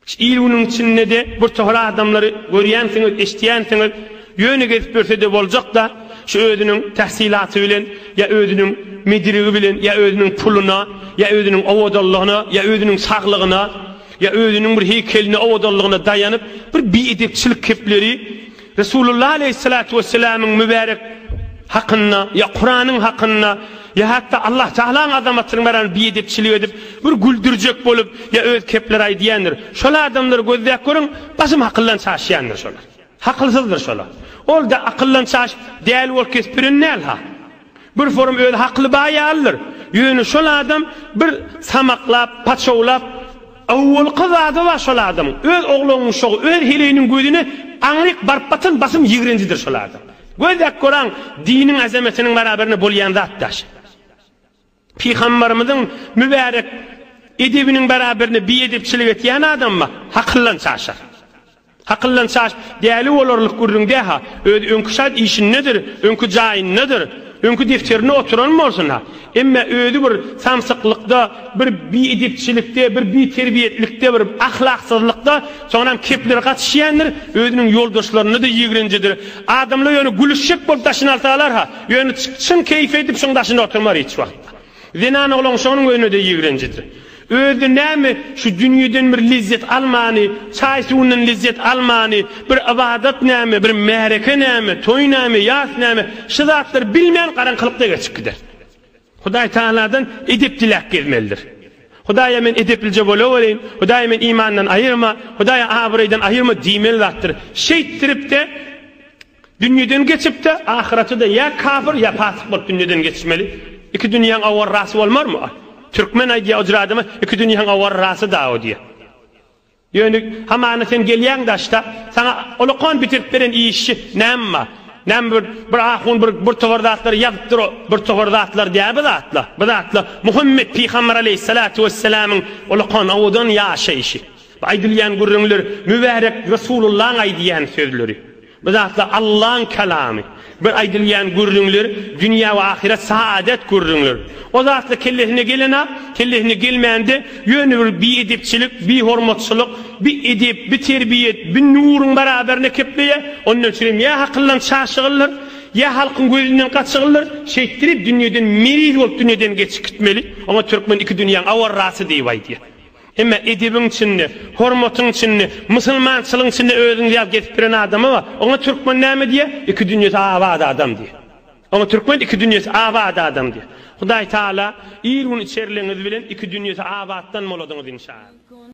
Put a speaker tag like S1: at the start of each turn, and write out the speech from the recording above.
S1: Şu il-günüň içinde-de birtohar adamlary görýänsiňiz, eşidýänsiňiz, ýöne gezip ýörse-de boljak-da, şu özüniň täsilaty bilen ýa özüniň medirigi bilen ýa özüniň puluna ýa özüniň owadanlygyna ýa özüniň saglygyna ýa özüniň bir heýkeline owadanlygyna daýanyp, bir biedepçilik kepleri Resulullah aleýhissalatu wesselamyň mübärek hakynda, ýa Kuranyň hakynda, ýa hatda Allah Tagalaň azamatynyň barasynda biedepçilik edip, bir güldürjek bolup, ýa öz kepleri aýdýandyr. Şol adamlary gözläp görüň, basym hakyldan çaşýandyr şolar. Hakylsyzdyr şolar. Ol-da akyldan çaşyp, däli bolup kesip biren däl-ha. Bir forum özi hakly baý ýalydyr. Ýöne şol adam bir samaklap, paçawlap, awwalky zady bar şol adamyň, öz oglangyşagy, öz heleýiniň gözüne aňryk baryp batan basym ýigrenjidir şol adam. Gözläp göraň, diniň azametiniň barabarynda bolýan zat daşy. Pygambarymyzyň mübärek edebiniň bäraberine biedepçilik etýän adama hakyldan çaşar. Hakyldan çaş däli bolarlyk gürrüň dä-ha, özi öňki şat işindedir, öňki jaýyndadyr, öňki defterinde oturan bolsun-ha, emma özi bir samsyklykda, bir biedepçilikde, bir biterbiýetlikde, bir ahlaksyzlykda, soňram kepleri gatyşýandyr, özüniň ýoldaşlaryna-da ýigrenjidir. Adamlar ýöne gülüşjek bolup daşyny alsalar-ha, Ýöne çyn keýpi edip şuň daşynda oturmar hiç wagtda. Zenan oglan şonuň özüne-de ýigrenjidir. Özi näme şu dünýeden bir lezzet almany, çaý-suwundan lezzet almany, bir ybadat näme, bir märeke näme, toý näme, ýas näme, şu zatlary bilmän garaňkylykda geçip gider. Hudaý Tagaladan edep diläp gezmelidir. Hudaýa men edeplije bolawereýin, Hudaý men imandan aýyrma, Hudaý abraýdan aýyrma diýmeli zatdyr. Şeýtdirip-de, Dünýeden geçip-de, ahyrete-de ýa kapyr, ýa pasyk bolup dünýeden geçmeli. Iki dünýäň awarrasy bolmarmy? A. Türkmen aýdýar, Ojur adama iki dünýäň awarrasy dagy diýýär. Ýöne hamana sen gelýäň daşda, saňa olakan bitirdip beren işçi näme bar? Näme bir, bir ahun bir, bir towar zatlary ýazypdyr, o bir towar zatlar däl bu zatlar. Bu zatlar Muhammet pygamber aleýhissalatu wessalamyň olakan owadan ýaşaýşy. Bu aýdylýan gürrüňler mübärek Resulullaň aýdýan sözleri. Bu zatlar Allaň kalamy. Bir aýdylýan gürrüňler dünýä we ahyret saadet gürrüňler. O zatlar kellesine gelen-ä, kellesine gelmän-de ýöne bir biedepçilik, bihormatçylyk, bi edep, bi terbiýet, bi nuruň baraberine kepleýär. Ondan üçin hem ýa hakyldan çaşygyldyr, ýa halkyň gözünden gaçygyldyr, şeýtdirip dünýeden meriz bolup dünýeden geçip gitmeli. Oňa türkmen iki dünýäň awarrasy diýip aýdýar. Emma edebiň içinde, hormatyň içinde, musulmançylygyň içinde özüňizi ýaly gezip ýören adama bar. Oňa türkmen näme diýýär? Iki dünýesi abat adam diýýär. Oňa türkmen iki dünýesi abat adam diýýär. Hudaý Taala ir-gün içerligiňiz bilen iki dünýesi abatdan boladyňyz inşaAllah.